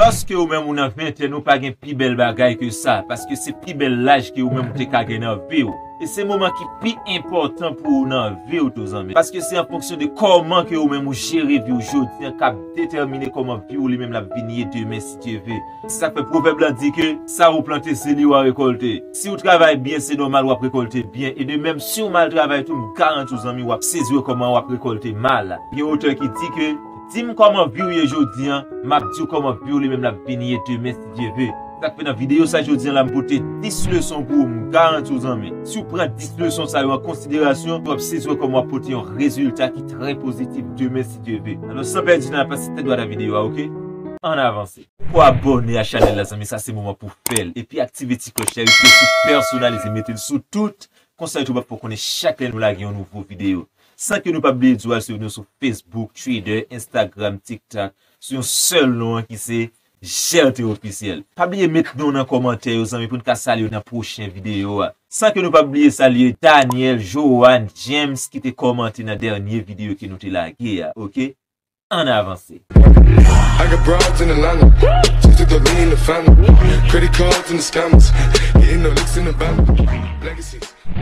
Paske ou menm ou nan ventèn ou pa gen pi bèl bagay ke sa, paske se pi bèl laj ke ou menm ou te ka gen nan vi'w. E se moman ki pi enpòtan pou ou nan vi'w tou zanmi. Paske se an fonksyon de kòman ke ou menm ou jere vi'w jodi an kap detèmine kòman vi'w li menm lap vin ye demen si Dye ve. Se sak fè pwovèb la di ke sa ou plante se li wa rekòlte. Si ou travay byen se nòmal wap rekòlte byen e de menm si ou mal travay tou m garanti w zanmi wap sezi wè kòman wap rekòlte mal. Gen otè ki di ke. Dim kòman viw ye jodi an map diw kòman viw li menm lap vin ye demen si Dye ve. Sak fè nan videyo sa jodi an la m pote 10 leson pou ou m garantiw zanmi siw pran 10 leson sa yo an konsiderasyon wap sezi wè kòman wap pote yon rezilta ki trè pozitif demen si Dye ve alò san pèdi tan pase tèt dwat a videyo a ok ann avanse. Ou abòne a chanèl la zanmi sa se moman pou fèl epi aktive ti klòch la rete sou pèsonalize metel sou tout konsa youtube ap fè w konnen chak lè nou lage yon nouvo videyo San ke nou pap bliye di w al swiv nou sou Facebook, Twitter, Instagram, TikTok sou yon sèl non an ki se Jelte Ofisyèl. Pa bliye met non w nan kòmantè yo zanmi pou n ka salye w nan pwochen videyo a. San ke nou pap bliye salye Daniel, Johanne, James ki te kòmante nan dènye videyo ke nou te lage a ok. ann avanse.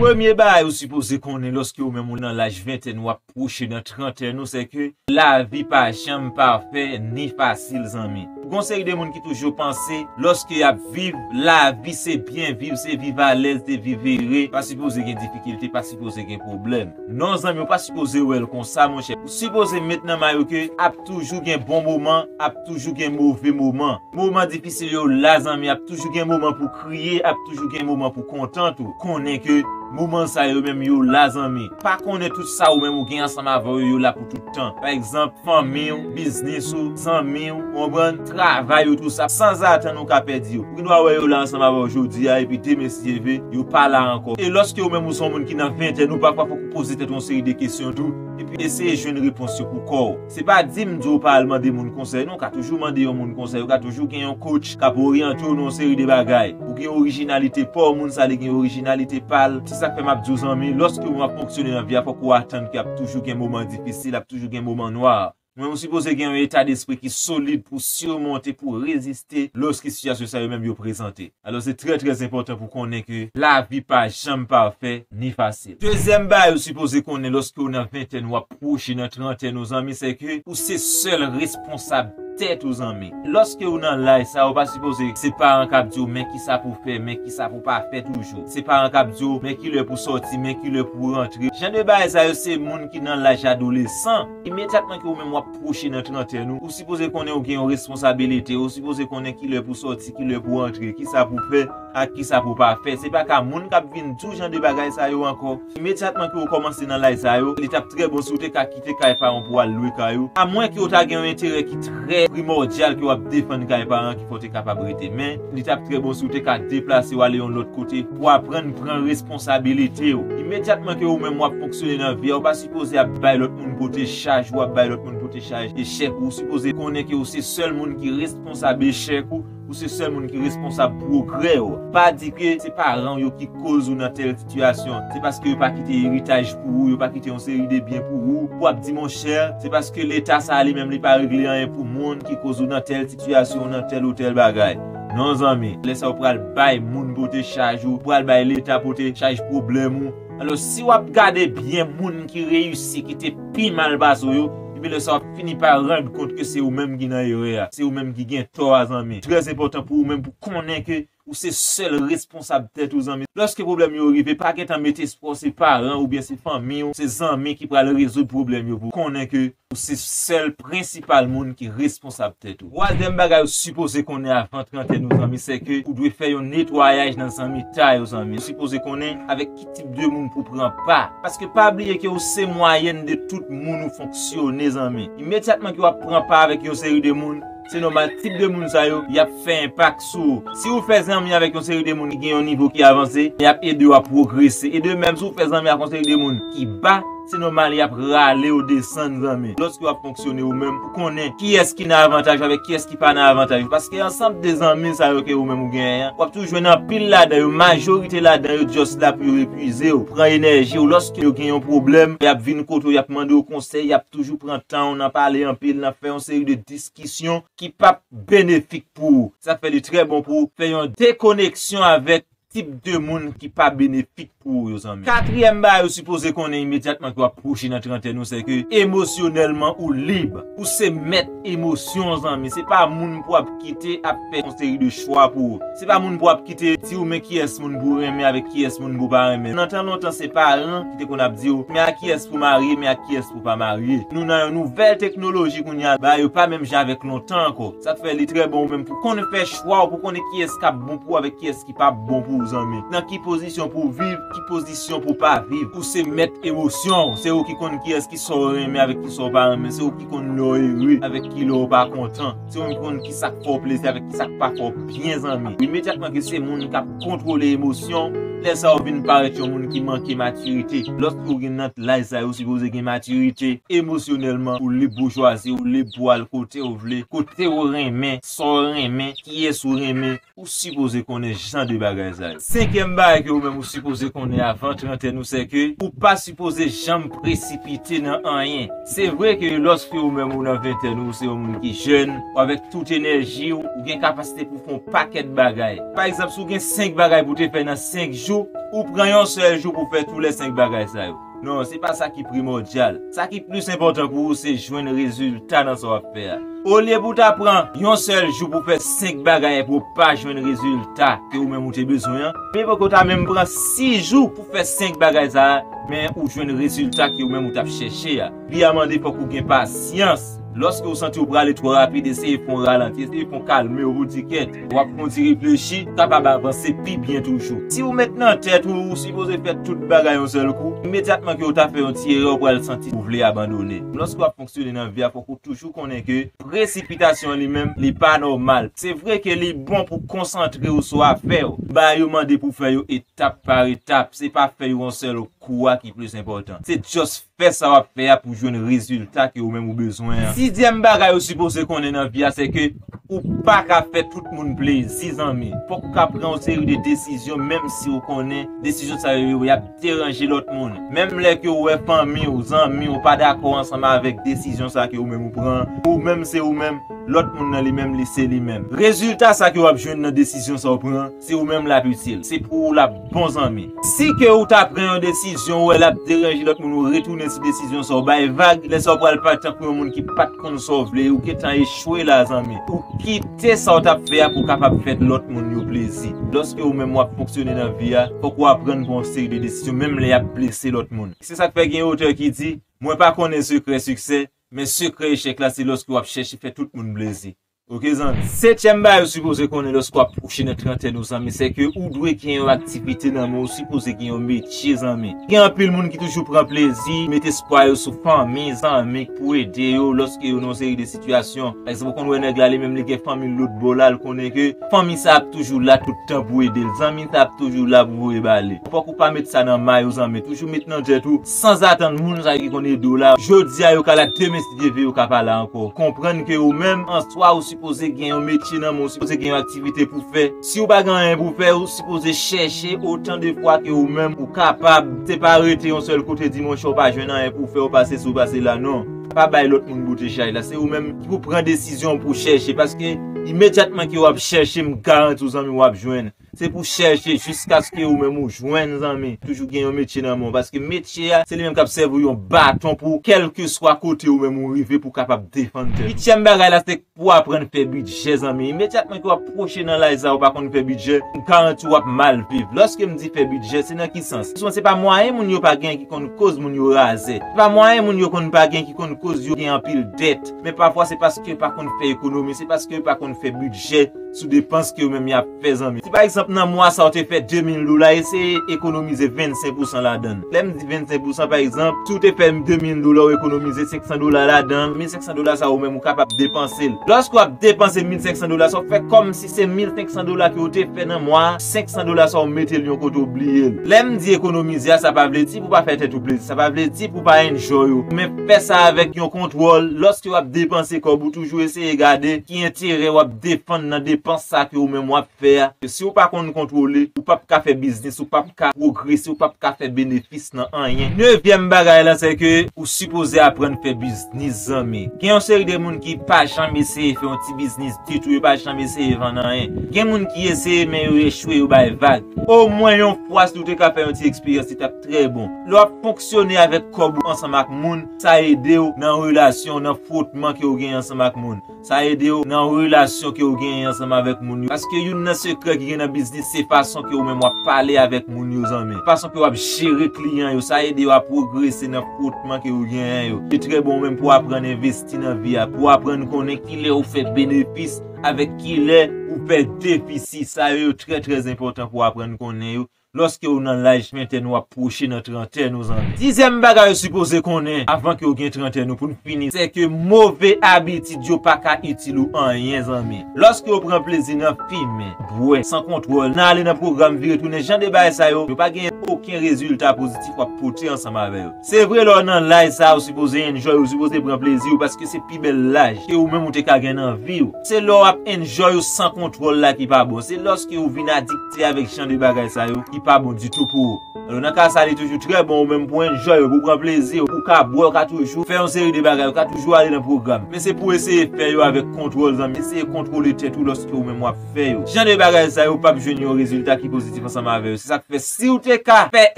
Premye bagay ou sipoze konnen lòske ou menm ou nan laj ventèn wap pwoche nan trantèn ou se ke lavi pa janm pafè ni fasil zanmi. Gon seri de moun ki toujou panse lòske yap viv lavi se byen viv se viv alèz se viv ere pa sipoze gen difikilte pa sipoze gen pwoblèm. Non zanmi ou pa sipoze wèl konsa monchè ou sipoze met nan may ou ke ap toujou gen bon moman ap toujou gen move moman moman difisil yo la zanmi ap toujou gen moman pou kriye ap toujou gen moman pou kontan tou konnen ke moman sa yo menm yo la zanmi pa konnen tout sa ou menm ou gen ansanm avè yo yo la pou tout. tan. Pa egzanp, fanmi ou, biznis ou, zanmi ou, ou konprann, travay ou tou sa sanzatann ou ka pèdi yo. Ou gen dwa wè yo la ansanm avè w jodi a epi demen si Dye ve, yo pa la ankò. E lòske ou menm ou se yon moun ki nan ventèn ou, pafwa fòk ou poze tèt ou yon seri de kesyon tou epi eseye jwenn repons yo pou kò w. Se pa di m di w pa al mande moun konsèy non, ou ka toujou mande yon moun konsèy, ou ka toujou gen yon coach. K ap oryante w nan yon seri de bagay. Ou gen orijinalite pa w, moun sa li gen orijinalite pa l. Se sa k fè m ap di w zanmi, lòske ou ap fonksyone nan vi a fòk ou atann ke ap toujou gen moman difisil, ap toujou gen moman nwa. Men ou sipoze gen yon eta despri ki solid pou simonte, pou reziste lòske sitiyasyon sa yo menm yo prezante. Alò se trè trè enpòtan pou konnen ke lavi pa janm pafè ni fasil. Dezyèm bagay ou sipoze konnen lòske ou nan ventèn ou ap. pwoche nan trantèn ou zanmi se ke ou se sèl responsab tèt ou zanmi. Lòske ou nan laj sa ou pa sipoze se paran kap diw men kisa pou fè men kisa pou pa fè toujou. Se paran kap diw men kilè pou sòti men kilè pou rantre. Jan de bagay sa yo se moun ki nan laj adolesan. Imedyatman ke ou menm wap pwoche nan trantèn ou, ou sipoze konnen ou gen yon responsabilite, ou sipoze konnen kilè pou sòti, kilè pou rantre, kisa pou fè ak kisa pou pa fè. Se pa ka moun kap vin diw jan de bagay sa yo ankò. Imedyatman ke ou kòmanse nan lay sa yo, li tap trè bon si ou te ka kite kay paran pou al lwe kay ou, a mwen ke ou ta gen yon enterè ki trè primòdyal ke wap defann kay paran ki fè ou te kapab rete. Men, li tap trè bon si ou te ka deplase ou ale yon lòt kote pou aprann pran responsabilite ou. Imedyatman ke ou menm wap fonksyone nan vi a, ou pa sipoze ap bay lòt moun pote chaj ou, ap bay lòt moun pote chaj echèk ou. Ou sipoze konnen ke ou se sèl moun ki responsabe echèk ou. Ou se sèl moun ki responsab pwogrè ou. Pa di ke se paran ou yo ki koz ou nan tèl titiyasyon. Se paske yo pa kite eritaj pou ou, yo pa kite yon seri de byen pou ou, pou ap di monchè, se paske leta sa a li menm li pa regle anyen pou moun ki koz ou nan tèl titiyasyon, ou nan tèl ou tèl bagay. Non zanmi, lè sa ou pral bay moun pote chaj ou, ou pral bay leta pote chaj pwoblèm ou. Alo si wap gade byen moun ki reyisi ki te pi mal pase w yo, epi lè sa wap fini pa rand kont ke se ou menm ki nan erè a, se ou menm ki gen tò a zanmi. Trè enpòtan pou ou menm pou konnen ke ou se sèl responsab tèt ou zanmi. Lòske pwoblèm yo rive pa gentan met espwa w se paran oubyen se fanmi w, se zanmi ki pral rezoud pwoblèm yo pou w. Konnen ke Ou se sèl prensipal moun ki responsab tèt ou. Twazyèm bagay ou sipoze konnen avan 30 ane w zanmi se ke ou dwe fè yon netwayaj nan zanmitay ou zanmi. Ou sipoze konnen avèk ki tip de moun pou pran pa. Paske pa bliye ke ou se mwayèn de tout moun ou fonksyone zanmi. Imedyatman ke w ap pran pa avèk yon seri de moun, Se nòmal tip de moun sa yo, y ap fè enpak sou ou. Si ou fè zanmi avèk yon seri de moun ki gen yon nivo ki avanse, y ap ede ou a pwogrese. E de menm, si ou fè zanmi ak yon seri de moun ki ba, se nòmal y ap rale ou desann zanmi. Lòske w ap fonksyone ou menm, ou konnen kiyès ki nan avantaj ou avèk kiyès ki pa nan avantaj ou. Paske ansanm de zanmi sa yo ke ou menm ou genyen an, w ap toujou jwenn anpil ladan yo, majorite ladan yo just la pou yo epuize ou, pran enèji ou. Lòske yo gen yon pwoblèm, y ap vin kote ou, y ap mande ou konsèy, y ap toujou pran tan ou nan pale anpil, nan fè yon seri de. diskisyon ki p ap benefik pou ou. Sa fè li trè bon pou ou fè yon dekoneksyon avèk tip de moun ki pa benefik pou ou yo zanmi. Katriyèm bagay ou sipoze konnen imedyatman ke w ap pwoche nan trantèn ou se ke emosyonèlman ou lib. Ou se mèt emosyon w zanmi. Se pa moun pou w ap kite ap fè yon seri de chwa pou ou. Se pa moun pou w ap kite di ou men kiyès moun pou w renmen avèk kiyès moun pou w pa renmen. Nan tan lontan se paran ki te konn ap di ou men a kiyès pou w marye, men a kiyès. ou pa marye. Nou nan yon nouvèl teknoloji kounye a, bagay yo pa menm jan avèk lontan ankò. Sa k fè li trè bon ou menm pou konn fè chwa w, pou konnen kiyès k ap bon pou ou avèk kiyès ki p ap bon pou ou zanmi. Nan ki pozisyon pou w viv, ki pozisyon pou w pa viv. Ou se mèt emosyon w, se ou ki konn kiyès ki sa w renmen avèk ki sa w pa renmen, se ou ki konn lè w ere avèk ki lè w pa kontan. Se ou menm ki konn ki sa k fè w plezi avèk ki sa k pa fè w byen zanmi. Imedyatman ke se moun k ap kontwole emosyon, lè sa ou vin parèt yon moun ki manke matirite. Lòske ou gen nan laj sa yo ou sipoze gen matirite emosyonèlman, ou lib boujwazi, ou lib pou w al kote ou vle, kote ou renmen, sa w renmen, kiyès ou renmen. Ou sipoze konnen jan de bagay sa yo. Senkyèm bagay ke ou menm ou sipoze konnen avan trantèn ou sè ke ou pa sipoze janm presipite nan anyen. Se vre ke lòske ou menm ou nan ventèn ou, ou se yon moun ki jèn, ou avèk tout enèji ou, ou gen kapasite pou fè yon pakèt bagay. Pa egzanp, si ou gen 5 bagay pou te fè nan 5 jou, ou pran yon sèl jou pou fè tou lè 5 bagay sa yo. Non, se pa sa ki primòdyal. Sa ki plis enpòtan pou ou se jwenn rezilta nan sa w ap fè a. Olye pou w ta pran yon sèl jou pou w fè senk bagay epi w pa jwenn rezilta ke ou menm ou te bezwen an, mivo ke w ta menm pran sis jou pou w fè senk bagay sa a, men ou jwenn rezilta ke ou menm ou t ap chèche a. Li a mande fòk ou gen pasyans. Lòske ou santi ou prale twò rapid eseye fon ralanti, eseye fon kalme ou di kèt. Wap fon ti reflechi, ou kapab avanse pi byen toujou. Si ou met nan tèt ou ou sipoze fè tout bagay yon sèl kou, imedyatman ke ou ta fè yon ti erè ou pral santi ou vle abandone. Lòske wap fonksyone nan vi a fòk ou toujou konnen ke presipitasyon li menm li pa nòmal. Se vre ke li bon pou konsantre ou sou afè ou, bagay ou mande pou fè yo etap par etap, se pa fè yo yon sèl kou a ki plis enpòtan. Se just Fè sa wap fè a pou jwenn rezilta ke ou menm ou bezwen an. Sizyèm bagay ou sipoze konnen nan vi a se ke ou pa ka fè tout moun plezi zanmi. Fòk ou ka pran yon seri de desizyon menm si ou konnen desizyon sa yo yap deranje lòt moun. Menm lè ke ou wè fanmi ou, zanmi ou pa dakò ansanm avèk desizyon sa ke ou menm ou pran an, ou menm se ou menm, lòt moun nan li menm li se li menm. Rezilta sa ke wap jwenn nan desizyon sa ou pran an, Si ou menm l ap itil. Se pou ou l ap bon zanmi. Si ke ou ta pran yon desizyon ou wè l ap deranje lòt moun ou retounen sou desizyon sa ou bay vag lè sa ou pral pa tankou yon moun ki pa t konn sa w vle ou gentan echwe la zanmi ou kite sa ou t ap fè a pou w kapab fè lòt moun yo plezi lòske ou menm w ap fonksyone nan vi a fòk ou aprann pran yon seri de desizyon menm lè y ap blese lòt moun se sa k fè gen yon otè ki di mwen pa konnen sekrè siksè men sekrè echèk la se lòske w ap chèche fè tout moun plezi. Ok zanmi. Setyèm bagay ou sipoze konnen lèske wap pwoche nan trantèn ou zanmi sèke ou dwe gen yon aktivite nan men ou sipoze gen yon metye zanmi. Gen anpil moun ki toujou pran plezi met espwa yo sou fanmi, zanmi k pou ede yo lòske yo nan yon seri de sitiyasyon. Pa egzanp ou konn wè nèg la li menm li gen fanmi l lotbò la l konnen ke fanmi sa ap toujou la tout tan pou ede l, zanmi sa ap toujou la pou voye ba li. Fòk ou pa met sa nan may ou zanmi toujou met nan tèt ou. Sanzatann moun sa yo ki konn ede w la, jodi a yo ka la, demen si Dye ve yo ka pa la ankò. Konprann ke ou menm an swa ou sipoze gen yon metye nan men w, ou sipoze gen yon aktivite pou fè. Si ou pa gen anyen pou fè, ou sipoze chèche otan de fwa ke ou menm ou kapab. Se pa rete yon sèl kote di monchè ou pa jwenn anyen pou w fè, ou pa sesi ou pa sela non. Pa bay lòt moun boutechaj la. Se ou menm ki pou pran desizyon w pou chèche paske imedyatman ke w ap chèche m garanti w zanmi w ap jwenn. Se pou chèche jiskaske ou menm ou jwenn zanmi. Toujou gen yon metye nan men w paske metye a se li menm k ap sèvi w yon baton pou kèlkeswa kote ou menm ou rive pou w kapab defann tèt ou. Uityèm bagay la se pou w aprann fè bidjè zanmi. Imedyatman ke w ap pwoche nan laj sa ou pa konn fè bidjè, m garanti w w ap mal viv. Lòske m di fè bidjè se nan ki sans? Souvan se pa mwayen moun yo pa gen ki konn koz moun yo razè. Se pa mwayen moun yo konn pa gen ki konn koz yo gen anpil dèt. Men pafwa se paske yo pa konn fè ekonomi, se paske yo pa konn fè bidjè. sou depans ke yo menm y ap fè zanmi. Si pa egzanp nan mwa sa ou te fè 2000 dola eseye ekonomize 25 pousan ladan l. Lè m di 25 pousan pa egzanp si ou te fè 2000 dola ou ekonomize 500 dola ladan l, 1500 dola sa ou menm ou kapab depanse l. Lòske w ap depanse 1500 dola sa ou fè kòmsi se 1500 dola ke ou te fè nan mwa a, 500 dola sa ou mete l yon kote ou bliye l. Lè m di ekonomize a sa pa vle di pou w pa fè tèt ou plezi, sa pa vle di pou w pa enjoy ou, men fè sa avèk yon kontwòl, lòske w ap depanse kòb ou toujou eseye gade ki enterè w ap defann nan depans sa ke ou menm wap fè a, ke si ou pa konn kontwole, ou pap ka fè biznis, ou pap ka pwogrese, ou pap ka fè benefis nan anyen. Nevyèm bagay lan se ke ou sipoze aprann fè biznis zanmi. Gen yon seri de moun ki pa janm eseye fè yon ti biznis ditou, yo pa janm eseye vann anyen. Gen moun ki eseye men yo echwe, yo bay vag. Omwen yon fwa si ou te ka fè yon ti eksperyans li tap trè bon. Lè wap fonksyone avèk kòb ou ansanm ak moun, sa ede ou nan relasyon, nan fwotman ke ou genyen ansanm ak moun. Sa ede w nan relasyon ke ou genyen ansanm avèk moun yo. Paske youn nan sekrè ki gen nan biznis se fason ke ou menm wap pale avèk moun yo zanmi. Fason ke wap jere kliyan yo. Sa ede yo a pwogrese nan fwotman ke ou genyen yo. Li trè bon ou menm pou w aprann envesti nan vi a. Pou w aprann konnen kilè ou fè benefis avèk kilè ou fè defisi. Sa yo yo trè trè enpòtan pou w aprann konnen yo. Loske ou nan laj ventèn wap pwoche nan trantèn ou zanmi. Dizyèm bagay ou sipoze konnen avan ke ou gen trantèn ou poun fini se ke move abitid yo paka itil ou anyen zanmi. Loske ou pran plezi nan fimen, bwè, san kontwòl, nan ale nan pwogram vire tounen jan de bagay sa yo, yo pa genyen oken rezilta pozitif wap pote ansanm avè yo. Se vre lè ou nan laj sa ou sipoze enjoy ou sipoze pran plezi ou paske se pi bèl laj ke ou menm ou te ka gen nan vi ou. Se lè wap enjoy ou san kontwòl la ki pa bon, se loske ou vin adiktif. Se avèk jan de bagay sa yo ki pa bon ditou pou ou. Alò nan ka sa li toujou trè bon ou menm pou enjoy ou, pou pran plezi ou, ou ka bwè, ou ka toujou fè yon seri de bagay, ou ka toujou ale nan pwogram. Men se pou eseye fè yo avèk kontwòl zanmi, eseye kontwole tèt ou lòske ou menm wap fè yo. Jan de bagay sa yo pap jwenn yon rezilta ki pozitif ansanm avè yo. Se sak fè siw te ka fè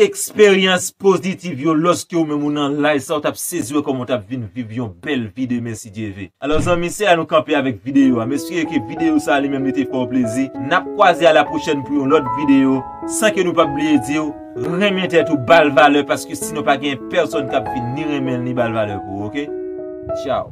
eksperyans pozitiv yo lòske ou menm ou nan laj sa ou tap sezi wè kòman ou tap vin viv yon bèl vi demen. si Dye ve. Alò zanmi se la nou kanpe avèk videyo a, m espere ke videyo sa li menm li te fè w plezi, nap kwaze a la pwochèn pou yon lòt videyo, san ke nou pap bliye di w, renmen tèt ou bal valè paske sinon pa gen pèsòn kap vin ni renmen l ni bal valè pou ou ok. Tchaw.